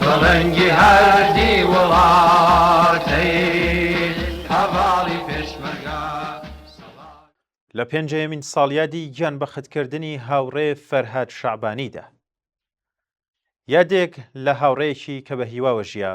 پڵنگی هەردی وڵاتەیل هەڤاڵی پێشمەرگە سەبا. لە پێنجەیەمین ساڵیادی گیانبەختکردنی هاوڕێ فەرهاد شەعبانیدا یادێک لە هاوڕێیەکی کە بە هیواوە ژیا،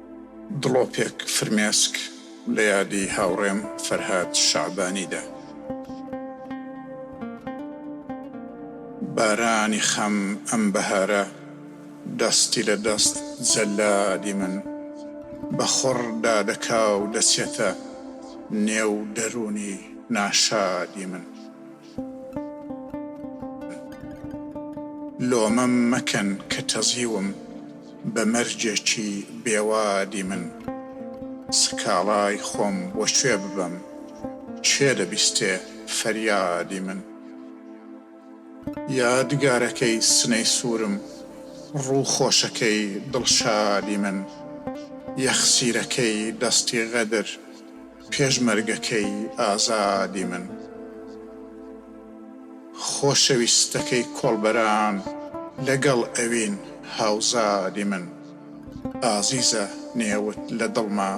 دڵۆپێک فرمێسک لە یادی هاوڕێم فەرهاد شەعبانیدا. بارانی خەم ئەم بەهارە دەستی لە دەست جەلادی من بە خڕ دادەکا و دەچێتە نێو دەروونی ناشادی من. لۆمەم مەکەن کە تەزیوم بە مەرجێکی بێوادی من سکاڵای خۆم بۆ کوێ ببەم کێ دەبیستێ فەریادی من یادگارەکەی سنەی سوورم ڕوو خۆشەکەی دڵشادی من یەخسیرەکەی دەستی غەدر پێشمەرگەکەی ئازادی من، خۆشەویستەکەی کۆڵبەران لەگەڵ ئەوین هاوزادی من، ئازیزە نێوت لە دڵما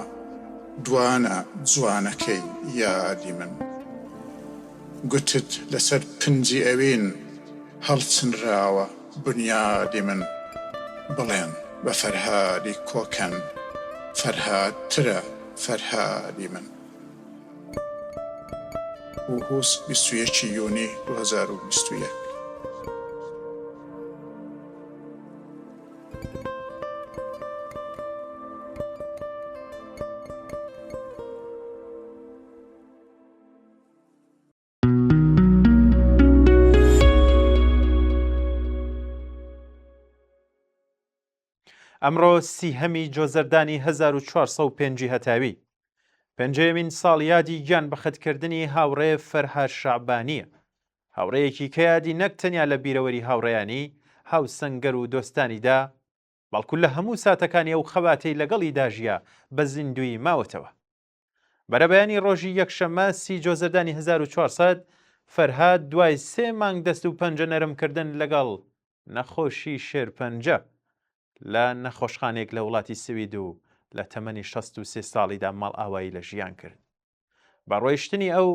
دوانە جوانەکەی یادی من، گوتت لەسەر پنجی ئەوین هەڵچنراوە، بنیادی من بڵێن بە فەرهادی کۆکەن فەرهاد ترە فەرهادی من. وهوس بیست و یەک یونی دوو هەزار و بیست و یەک. ئەمڕۆ سیهەمی جۆزەردانی 1405 هەتاوی پێنجەیەمین ساڵیادی گیان بەخەتکردنی هاوڕێ فەرهار شعبانیە هاوڕەیەکی کە یادی نەک تەنیا لە بیرەوەری هاوڕێیانی هاوسەنگەر و دۆستانیدا بەڵکو لە هەموو ساتەکانی ئەو خەباتەی لەگەڵی داژە بە زیندوی ماوەتەوە بەرەبەیانی ڕۆژی یەکشەممە سی جۆزەردانی 1400 فەرهاد دوای سێ مانگ دەست و پەنجە نەرمکردن لەگەڵ نەخۆشی شێرپەنجە لە نەخۆشخانێک لە وڵاتی سوید و لە تەمەنی 16 ساڵیدا ماڵ ئاوایی لە ژیان کرد بە ڕۆیشتنی ئەو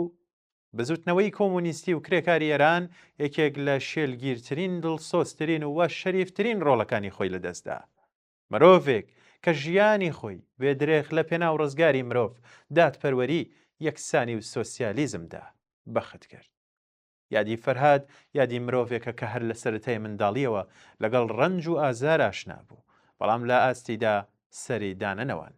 بزوتنەوەی کۆمونیستی و کرێکاری ئێران یەکێک لە شێلگیرترین دڵسۆسترین و وە شەریفترین ڕۆڵەکانی خۆی لەدەستدا مرۆڤێک کە ژیانی خۆی بێ درێخ لە پێناو ڕزگاری مرۆڤ، دادپەروەری، یەکسانی و سۆسیالیزم دا، بەخت کرد. یادی فەرهاد یادی مرۆڤێکە کە هەر لە سەرەتای منداڵییەوە لەگەڵ ڕەنج و ئازار ئاشنا بوو، بەڵام لە ئاستیدا سەری دانەنەواند.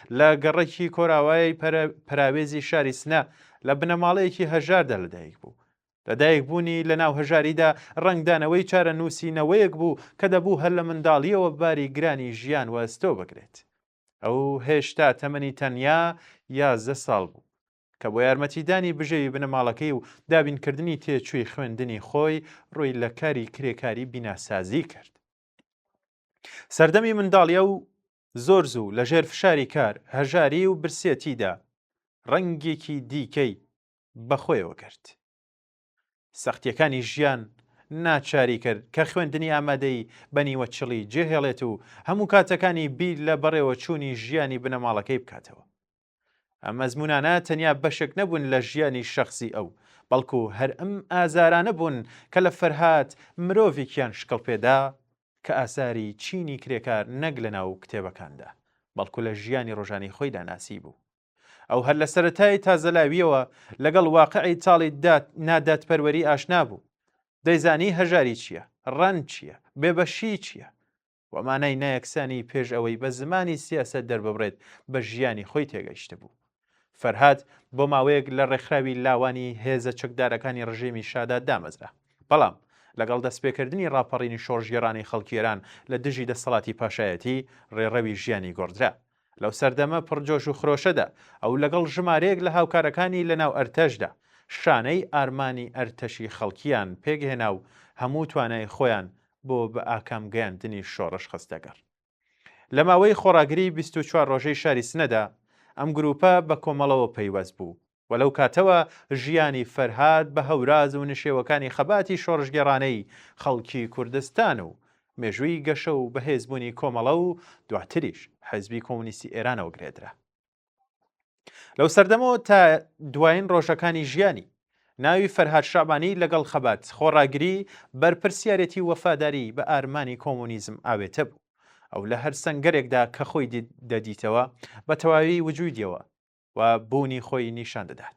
لە گەڕەکی کۆراوای پەراوێزی شاری سنە لە بنەماڵەیەکی هەژاردا لەدایک بوو. لەدایک بوونی لە ناو هەژاریدا ڕنگدانەوەی چارە نووسینەوەیەک بوو کە دەبوو هەر لە منداڵیەوە باری گرانی ژیان وەستۆ بگرێت. ئەو هێشتا تەمەنی تەنیا یازدە ساڵ بوو. کە بۆ یارمەتیدانی بژێوی بنەماڵەکەی و دابینکردنی تێچووی خوێندنی خۆی ڕووی لە کاری کرێکاری بیناسازی کرد. سەردەمی منداڵیە و زۆر زوو لە ژێر فشاری کار، هەژاری و برسێتیدا ڕەنگێکی دیکەی بە خۆیەوە گرت. سەختییەکانی ژیان ناچاری کرد کە خوێندنی ئامادەیی بە نیوەچڵی جێهێڵێت و هەموو کاتەکانی بیر لە بەڕێوەچوونی ژیانی بنەماڵەکەی بکاتەوە. ئەم ئەزمونانە تەنیا بەشێک نەبوون لە ژیانی شخصی ئەو بەڵکو هەر ئەم ئازارانە بوون کە لە فەرهاد مرۆڤێکیان شکڵ پێدا کە ئاساری چینی کرێکار نەک لە ناو کتێبەکاندا بەڵکو لە ژیانی ڕۆژانی خۆیدا ناسی بوو ئەو هەر لە سەتای تازەلاویەوە لەگەڵ واقعی تاڵی دات نادات پەروەری ئاشنا بوو دەیزانی هەژاری چییە ڕەن چییە بێبەشی چییە وە مانای نایەکسانی پێش ئەوەی بە زمانی سیاسەت دەرببڕێت بە ژیانی خۆی تێگەیشتبوو. فەرهاد بۆ ماوەیەک لە ڕێکخراوی لاوانی هێزە چەکدارەکانی ڕژێمی شادا دامەزرا. بەڵام لەگەڵ دەستپێکردنی ڕاپەڕینی شۆڕشگێڕانەی خەڵکی ئێران لە دژی دەستەڵاتی پاشایەتی، ڕێڕەوی ژیانی گۆڕدرا. لەو سەردەمە پڕ جۆش و خرۆشەدا، ئەو لەگەڵ ژمارەیەک لە هاوکارەکانی لەناو ئەرتەشدا، شانەی ئارمانی ئەرتەشی خەڵکییان پێکهێنا و هەموو توانای خۆیان بۆ بەئاکام گەیاندنی شۆڕش خستەگەڕ. لە ماوەی خۆڕاگریی بیست و چوار ڕۆژەی شاری سنەدا، ئەم گرووپە بە کۆمەڵەوە پەیوەست بوو و لەو کاتەوە ژیانی فەرهاد بە هەوراز و نشێوەکانی خەباتی شۆڕشگێڕانەی خەڵکی کوردستان و مێژووی گەشە و بەهێزبوونی کۆمەڵە و دواتریش حیزبی کۆمۆنیستی ئێرانەوە گرێدرا. لەو سەردەمەوە تا دوایین ڕۆژەکانی ژیانی ناوی فەرهاد شەعبانی لەگەڵ خەبات خۆڕاگری بەرپرسیارەتی وەفاداری بە ئارمانی کۆمۆنیزم ئاوێتە بوو. ئەو لە هەر سەنگەرێکدا کە خۆی دەدیتەوە بە تەواوی وجودیەوە و بوونی خۆی نیشان دەدات.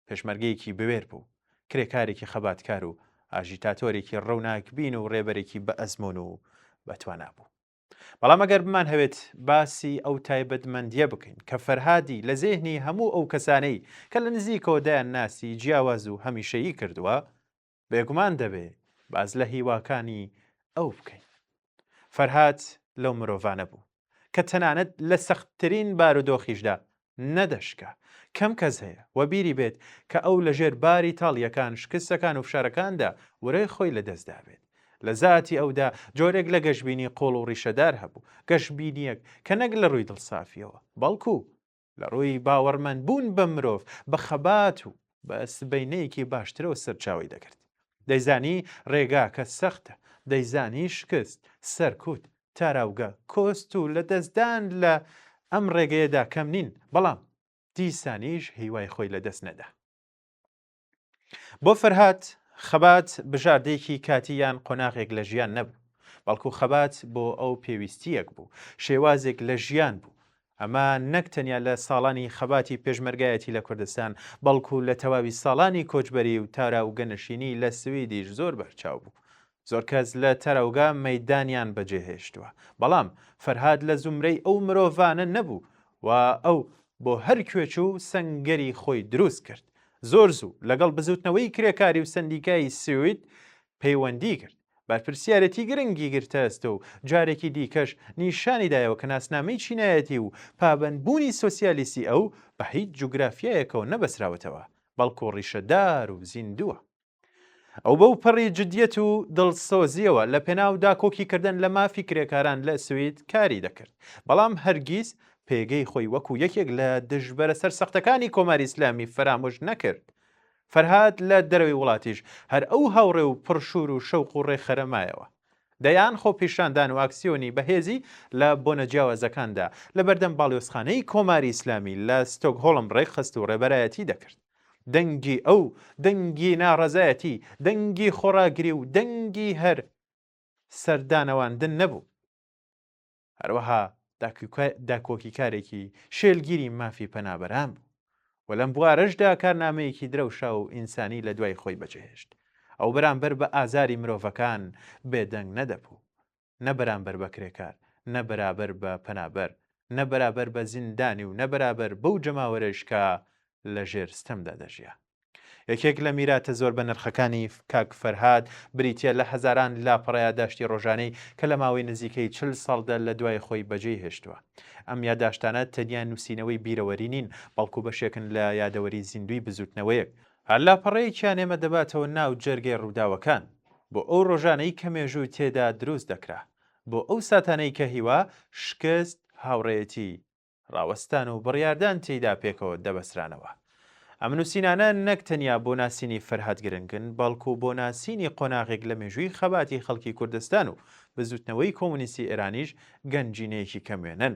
پێشمەرگەیەکی بوێر بوو، کرێکارێکی خەباتکار و ئاژیتاتۆرێکی ڕووناکبین و ڕێبەرێکی بە ئەزمون و بەتوانا بوو. بەڵام ئەگەر بمان هەوێت باسی ئەو تایبەتمەندیە بکەین کە فەرهادی لە زێهنی هەموو ئەو کەسانەی کە لە نزیکەوە دەیان ناسی جیاواز و هەمیشەیی کردووە بێگومان دەبێ باز لە هیواکانی ئەو بکەین فەرهاد لەو مرۆڤانە بوو کە تەنانەت لە سەختترین بارودۆخیشدا نەدەشکا کەم کەس هەیە و بیری بێت کە ئەو لەژێر باری تاڵیەکان شکستەکان و فشارەکاندا ورەی خۆی لەدەستدابێت لە زاتی ئەودا جۆرێک لە گەشببینی قۆڵ و ڕیشەدار هەبوو گەشببینیەک کە نەک لە ڕووی دڵسافیەوە بەڵکو لە ڕووی باوەڕمەند بوون بە مرۆڤ بە خەبات و بە سبەینەیەکی باشترەوە سەرچاوەی دەگرت دەیزانی ڕێگاکە سەختە دەیزانی شکست سەرکوت تاراوگە کۆست و لە دەستدان لە ئەم ڕێگەیەدا کەم نین بەڵام دیسانیش هیوای خۆی لە دەست نەدا. بۆ فەرهات خەبات بژاردەیەکی کاتی یان قۆناغێک لە ژیان نەبوو بەڵکو خەبات بۆ ئەو پێویستیەک بوو شێوازێک لە ژیان بوو ئەمە نەک تەنیا لە ساڵانی خەباتی پێشمەرگایەتی لە کوردستان بەڵکو لە تەواوی ساڵانی کۆچبەری و تارا و گەنشینی لە سویدیش زۆر بەرچاو بوو زۆر کەس لە تەرەوگە مەیدانیان بەجێهێشتووە، بەڵام فەرهاد لە زومرەی ئەو مرۆڤانە نەبوو و ئەو بۆ هەر کوێ چوو سەنگەری خۆی دروست کرد. زۆر زوو لەگەڵ بزووتنەوەی کرێکاری و سەندیکای سوید پەیوەندی کرد، بەرپرسیارێتی گرنگی گرتەستە و جارێکی دیکەش نیشانی دایەوە کە ناسنامەی چینایەتی و پابەندبوونی سۆسیالیستی ئەو بە هیچ جوگرافیایەکەوە نەبەستراوەتەوە، بەڵکو ڕیشەدار و زیندووە. ئەو بەو پەڕی جدیەت و دڵسۆزیەوە لە پێناو داکۆکی کردن لە مافی کرێکاران لە سوید کاری دەکرد بەڵام هەرگیز پێگەی خۆی وەکو یەکێک لە دژبەرە سەر سەختەکانی کۆماری ئسلامی فەرامۆش نەکرد فەرهاد لە دەرەوەی وڵاتیش هەر ئەو هاوڕێ و پڕشور و شەوق و ڕێخەرەمایەوە دەیان خۆ پیشاندان و ئاکسیۆنی بەهێزی لە بۆنە جیاوازەکاندا لە بەردەم باڵیۆزخانەی کۆماری ئیسلامی لە ستۆک هۆڵم ڕێکخست و ڕێبەرایەتی دەکرد دەنگی ئەو، دەنگی ناڕەزایەتی، دەنگی خۆڕاگری و دەنگی هەر سەردانەواندن نەبوو. هەروەها داکۆکیکارێکی شێلگیری مافی پەنابەران بوو و لەم بوارەشدا کارنامەیەکی درەوشا و ئینسانی لە دوای خۆی بەجێهێشت. ئەو بەرامبەر بە ئازاری مرۆڤەکان بێدەنگ نەدەبوو. نە بەرامبەر بە کرێکار، نە بەرابەر بە پەنابەر، نە بەرابەر بە زیندانی و نە بەرابەر بەو جەماوەرەیش کە لە ژێر ستەمدا دەژیا. یەکێک لە میراتە زۆر بەنرخەکانی کاک فەرهاد بریتییە لە هەزاران لاپەڕە یاداشتی ڕۆژانەی کە لە ماوەی نزیکەی چل ساڵدا لە دوای خۆی بەجێی هێشتووە. ئەم یاداشتانە تەنیا نووسینەوەی بیرەوەری نین، بەڵکو بەشێکن لە یادەوەری زیندووی بزووتنەوەیەک، هەر لاپەڕەیەکیان ئێمە دەباتەوە ناو جەرگەی ڕووداوەکان، بۆ ئەو ڕۆژانەی کە مێژوو تێدا دروست دەکرا، بۆ ئەو ساتانەی کە هیوا، شکست، هاوڕێیەتی، ڕاوەستان و بڕیاردان تێیدا پێکەوە دەبەسترانەوە. ئەم نووسینانە نەک تەنیا بۆ ناسینی فەرهاد گرنگن، بەڵکو بۆ ناسینی قۆناغێک لە مێژووی خەباتی خەڵکی کوردستان و بزووتنەوەی کۆمۆنیستی ئێرانیش گەنجینەیەکی کەموێنەن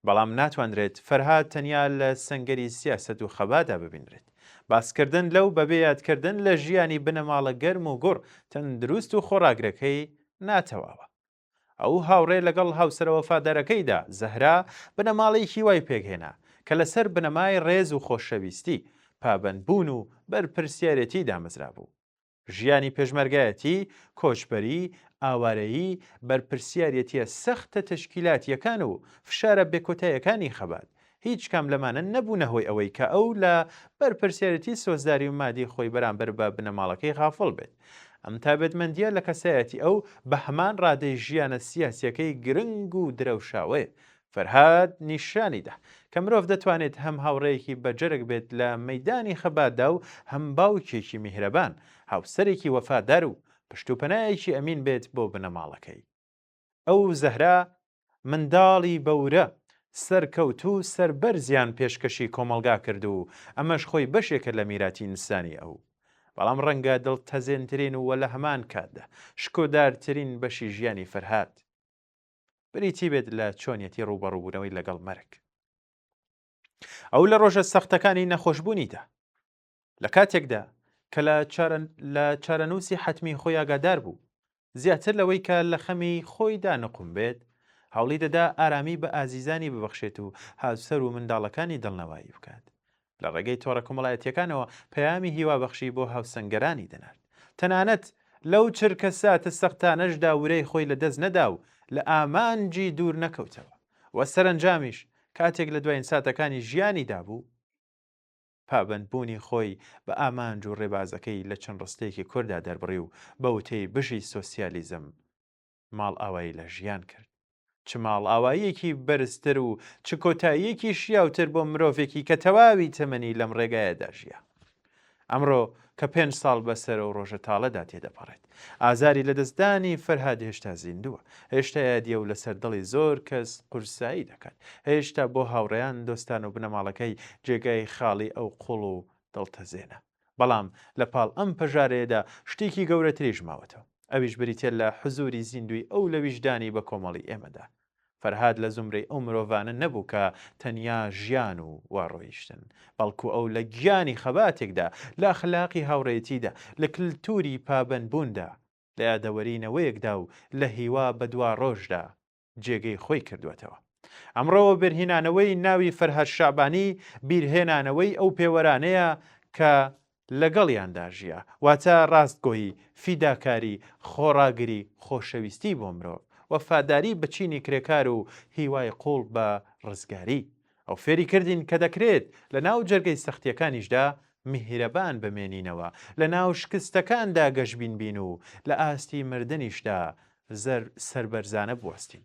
بەڵام ناتوانرێت فەرهاد تەنیا لە سەنگەری سیاسەت و خەبادا ببینرێت. باسکردن لەو بەبێ یادکردن لە ژیانی بنەماڵە گەرم و گوڕ، تەندروست و خۆڕاگرەکەی ناتەواوە. ئەو هاوڕێ لەگەڵ هاوسەرە وەفادارەکەیدا، زەهرا، بنەماڵەیەکی وای پێکهێنا، کە لەسەر بنەمای ڕێز و خۆشەویستی، پابەندبوون و بەرپرسیارێتی دامەزرابوو. ژیانی پێشمەرگایەتی، کۆچبەری، ئاوارەیی، بەرپرسیاریەتیە سەختە تەشکیلاتیەکان و فشارە بێکۆتایەکانی خەبات، هیچ کام لەمانە نەبوونە هۆی ئەوەی کە ئەو لە بەرپرسیارەتی سۆزداری و مادی خۆی بەرامبەر بە بنەماڵەکەی غافڵ بێت. ئەم تابێتمەندیە لە کەسایەتی ئەو بە هەمان ڕادەی ژیانە سیاسیەکەی گرنگ و درەوشاوەیە. فەرهاد نیشانی دا کە مرۆڤ دەتوانێت هەم هاوڕێیەکی بەجەرگ بێت لە مەیدانی خەباتدا و هەم باوکێکی میهرەبان، هاوسەرێکی وەفادار و پشت و پەنایەکی ئەمین بێت بۆ بنەماڵەکەی. ئەو و زەهرا منداڵی بەورە، سەرکەوتوو و سەربەرزیان پێشکەشی کۆمەڵگا کرد و ئەمەش خۆی بەشێکە لە میراتی ئینسانی ئەو. بەڵام ڕەنگە دڵتەزێنترین و لە هەمان کاتدا شکۆدارترین بەشی ژیانی فەرهاد، بریتی بێت لە چۆنیەتی ڕووبەڕووبوونەوەی لەگەڵ مەرگ ئەو لە ڕۆژە سەختەکانی نەخۆشببوونیدا لە کاتێکدا کە لە چارەنووسی حتمی خۆی ئاگادار بوو زیاتر لەوەی کە لە خەمی خۆیدا نقم بێت هەوڵی دەدا ئارامی بە ئازیزانی ببەخشێت و هاوسەر و منداڵەکانی دڵنەوایی بکات لە ڕێگەی تۆڕە کۆمەڵایەتییەکانەوە پەیامی هیوابەخشی بۆ هاوسەنگەرانی دەنارد، تەنانەت لەو چرکە ساتە سەختانەشدا ورەی خۆی لەدەست نەدا و لە ئامانجی دوور نەکەوتەوە و سەرەنجامیش کاتێک لە دواین ساتەکانی ژیانیدا بوو، پابەندبوونی خۆی بە ئامانج و ڕێبازەکەی لە چەند ڕستەیەکی کورتدا دەربڕی و بە وتەی بژی سۆسیالیزم ماڵئاوایی لە ژیان کرد. چ ماڵئاواییەکی بەرزتر و چ کۆتاییەکی شیاوتر بۆ مرۆڤێکی کە تەواوی تەمەنی لەم ڕێگایەدا ژیا. ئەمڕۆ کە پێنج ساڵ بەسەر و ڕۆژە تاڵەدا تێدەپەڕێت ئازاری لەدەستدانی فەرهاد هێشتا زیندووە هێشتا یادیە و لەسەر دڵی زۆر کەس قورسایی دەکات هێشتا بۆ هاوڕێیان دۆستان و بنەماڵەکەی جێگای خاڵی ئەو قوڵ و دڵتەزێنە بەڵام لە پاڵ ئەم پەژارەیەدا شتێکی گەورەتریش ماوەتەوە ئەویش بریتیە لە حزوری زیندوی ئەو لە ویژدانی بە کۆمەڵی ئێمەدا. فەرهاد لە زومرەی ئەو مرۆڤانە نەبوو کە تەنیا ژیان و وا ڕۆیشتن، بەڵکو ئەو لە گیانی خەباتێکدا، لە ئەخلاقی هاوڕێیەتیدا، لە کلتوری پابەندبووندا، لە یادەوەری نەوەیەکدا و لە هیوا بە دوا ڕۆژدا جێگەی خۆی کردووەتەوە. ئەمڕۆ وەبەرهینانەوەی ناوی فەرهاد شەعبانی بیرهێنانەوەی ئەو پێوەرانەیە کە لەگەڵیاندا ژیا، واتە ڕاستگۆیی، فیداکاری، خۆڕاگری، خۆشەویستی بۆ مرۆڤ، وەفاداری بە چینی کرێکار و هیوای قووڵ بە ڕزگاری. ئەو فێری کردین کە دەکرێت لە ناو جەرگەی سەختیەکانیشدا میهرەبان بمێنینەوە، لە ناو شکستەکاندا گەشبین بین و لە ئاستی مردنیشدا زەر سەربەرزانە بوەستین.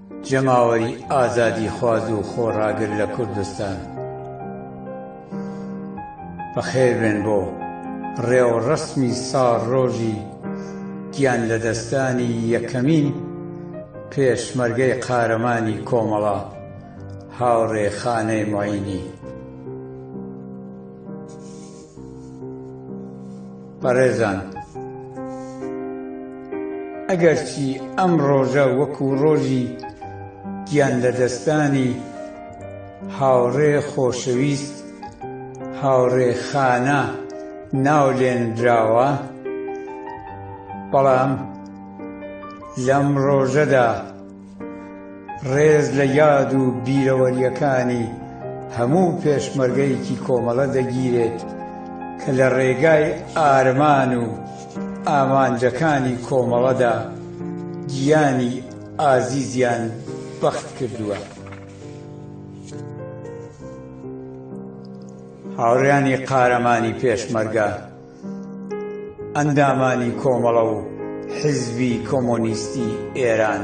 جەماوەری ئازادی خواز و خۆڕاگر لە کوردستان بەخێربێن بۆ ڕێوڕەسمی ساڵڕۆژی گیان لەدەستدانی یەکەمین پێشمەرگەی قارەمانی کۆمەڵە هاوڕێ خانەی معینی. بەڕێزان، ئەگەرچی ئەم ڕۆژە وەکو ڕۆژی گیانلەدەستدانی هاوڕێ خۆشەویست هاوڕێ خانا ناولێنراوە، بەڵام لەم ڕۆژەدا، ڕێز لە یاد و بیرەوەریەکانی هەموو پێشمەرگەیەکی کۆمەڵە دەگیرێت کە لە ڕێگای ئارمان و ئامانجەکانی کۆمەڵەدا گیانی ئازیزیان بەخت کردووە هاوڕیانی قارەمانی پێشمەرگە ئەندامانی کۆمەڵە و حیزبی کۆمۆنیستی ئێران،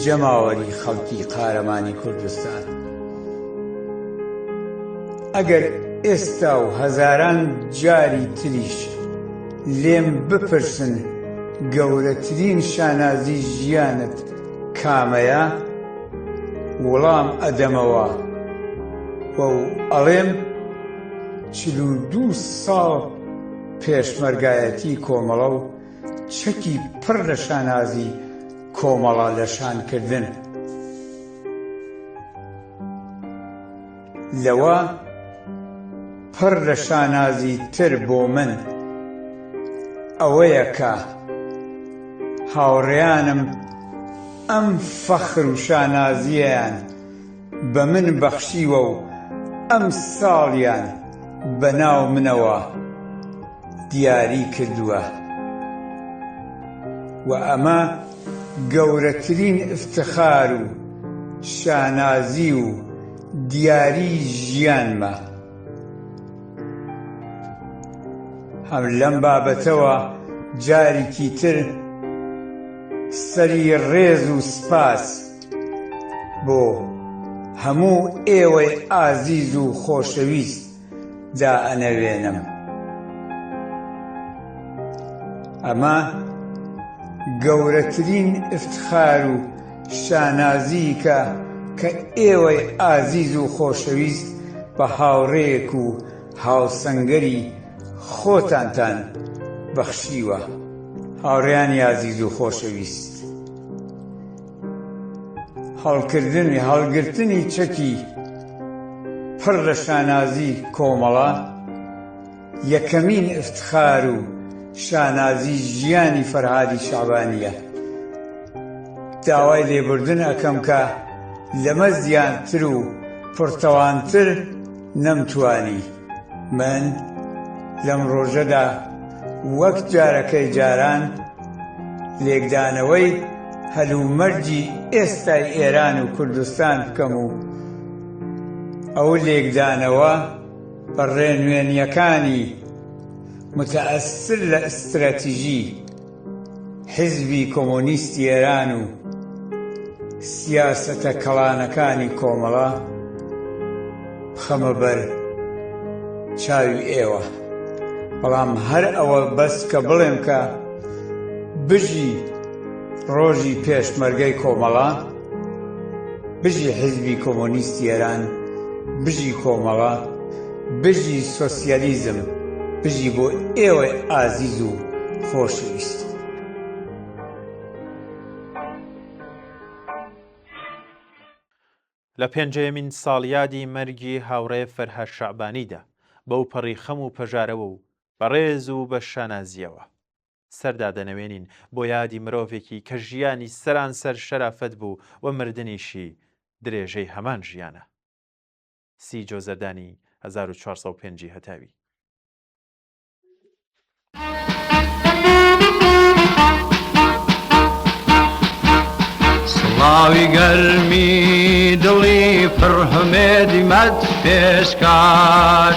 جەماوەری خەڵکی قارەمانی کوردستان، ئەگەر ئێستا و هەزاران جاری تریش لێم بپرسن گەورەترین شانازی ژیانت کامەیە؟ وڵام ئەدەمەوە و ئەڵێم، چل و دوو ساڵ پێشمەرگایەتی کۆمەڵە و چەکی پڕ لە شانازی کۆمەڵە لە شان کردن لەوە پڕ لە شانازی تر بۆ من ئەوەیە کە هاوڕێیانم ئەم فەخر و شانازییەیان بە من بەخشیوە و ئەم ساڵیان بە ناو منەوە دیاری کردووە و ئەمە گەورەترین ئفتخار و شانازی و دیاری ژیانمە هەم لەم بابەتەوە جاریکی تر سەری ڕێز و سپاس بۆ هەموو ئێوەی ئازیز و خۆشەویست دا ئەنەوێنم ئەمە گەورەترین ئفتخار و شانازیکە کە ئێوەی ئازیز و خۆشەویست بە هاوڕێیەک و هاوسەنگەری خۆتانتان بەخشیوە هاوڕێیانی ئازیز و خۆشەویست. هەڵکردنی هەڵگرتنی چەکی پڕ لە شانازی کۆمەڵە یەکەمین افتخار و شانازی ژیانی فەرهادی شەعبانییە داوای لێبوردن ئەکەم کە لەمە زیاتر و پڕتەوانتر نەمتوانی من لەم ڕۆژەدا وەک جارەکەی جاران لێکدانەوەی هەلومەرجی ئێستای ئێران و کوردستان بکەم و ئەو لێکدانەوە بە ڕێنوێنییەکانی متەئەسر لە ئستراتیژی حیزبی کۆمۆنیستی ئێران و سیاسەتە کەڵانەکانی کۆمەڵە بخەمە بەر چاوی ئێوە، بەڵام هەر ئەوە بەس کە بڵێم کە بژی ڕۆژی پێشمەرگەی کۆمەڵە، بژی حیزبی کۆمۆنیستی ئێران بژی کۆمەڵە بژی سۆسیالیزم بژی بۆ ئێوە ئازیز و خۆشویست لە پێنجەیەمین ساڵیادی مەرگی هاوڕێ فەرهاد شەعبانیدا بەو پەڕی خەم و پەژارەوە و بەڕێز و بە شانازیەوە سەر دادەنەوێنین بۆ یادی مرۆڤێکی کە ژیانی سەرانسەر شەرافەت بوو و مردنیشی درێژەی هەمان ژیانە. سی جۆزەردانی هەزار و چوار سەد و پێنج ی هەتاوی. سڵاوی گەرمی دڵی پڕ هەمێدی مەد پێشکاش